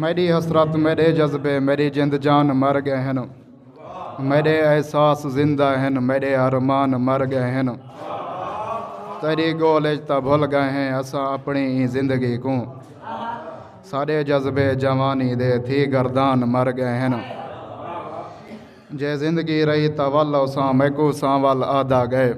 میݙی حسرت میݙے جذبے میݙی جند جان مر ڳئے ہن میݙے احساس زندہ ہن میݙے ارمان مر ڳئے ہن تیݙی ڳول اچ تاں بھل ڳئے ہیں اساں اپݨی ایں زندگی کوں ساݙے جذبے جوانی دے تھی گردان مر ڳئے ہن جے زندگی رہی تاں ول اساں میکوں سانول آہدا ڳئے۔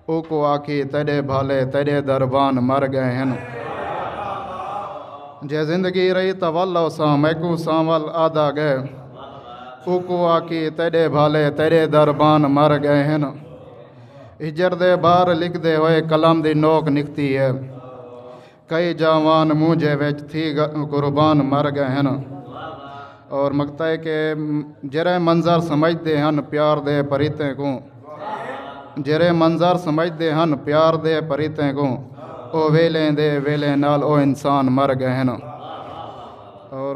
اوکوں آکھی تیڈے بھالے تیڈے دربان مر گئے ہن۔ جے زندگی رہی تاں ول اوساں میکوں سانول آدا گئے۔ اوکوں آکھی تیڈے بھالے تیڈے دربان مر گئے ہن۔ ہجر دے بار لکھدے ہوئے قلم دی نوک نکھتی ہے۔ کئی جاوان مونجھے وچ تھی قربان مر گئے ہن اور مقطع ہے کہ جرے منظر سمجھ دے ہن پیار دے پریتیں کو جرے منظر سمجھ دے ہن پیار دے پریتیں کو او ویلے دے ویلے نال او انسان مر گئے ہن اور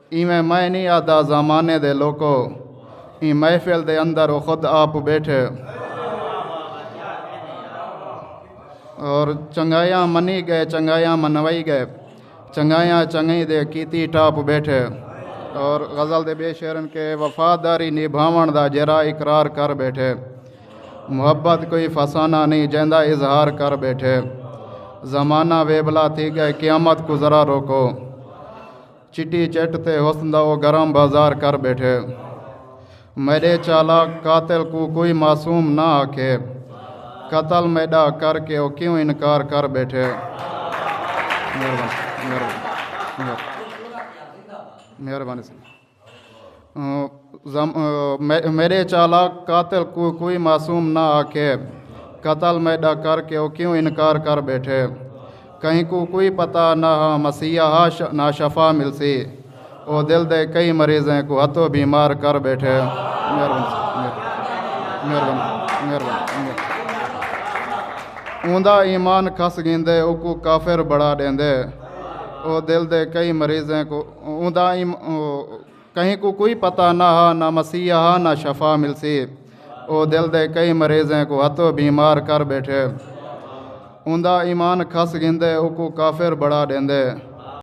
ایویں میں نی آہدا زمانے دے لوکو ایں محفل دے اندر او خود آپ بیٹھے اور چنگایاں منی گئے چنگایاں منوائی گئے چنگایاں چنگئی دے کیتی ٹاپ بیٹھے اور غزل دے بے شعرن کے وفاداری نبھاون دا جرا اقرار کر بیٹھے محبت کوئی فسانہ نہیں جیندا اظہار کر بیٹھے زمانہ ویبلا تھی گئے قیامت کو ذرا روکو چٹی چٹ تے حسن دا او گرم بازار کر ٻیٹھے میݙے چالاک قاتل کوں کوئی معصوم نہ آکھے قتل میݙا کر کے او کیوں انکار کر ٻیٹھے مہربانی مہربانی مہربانی سائیں میݙے چالاک قاتل کوں کوئی معصوم نہ آکھے قتل میݙا کر کے او کیوں انکار کر ٻیٹھے کہیں کوں کوئی پتہ نہ ہا مسیحا ہا نہ شفا ملسی او دل دے کئی مریضیں کوں ہتھو بیمار کر ٻیٹھے اوندا ایمان کھس گیندے او کوں کافر بڑا ݙیندے او دل دے کئی مریضیں کوں اوندا کہیں کوں کوئی پتہ نہ ہا نہ مسیح ہا نہ شفا ملسی او دل دے کئی مریضیں کو ہتو بیمار کر بیٹھے اوندا ایمان کھس گھندے اوکوں کافر بڑا ڈیندے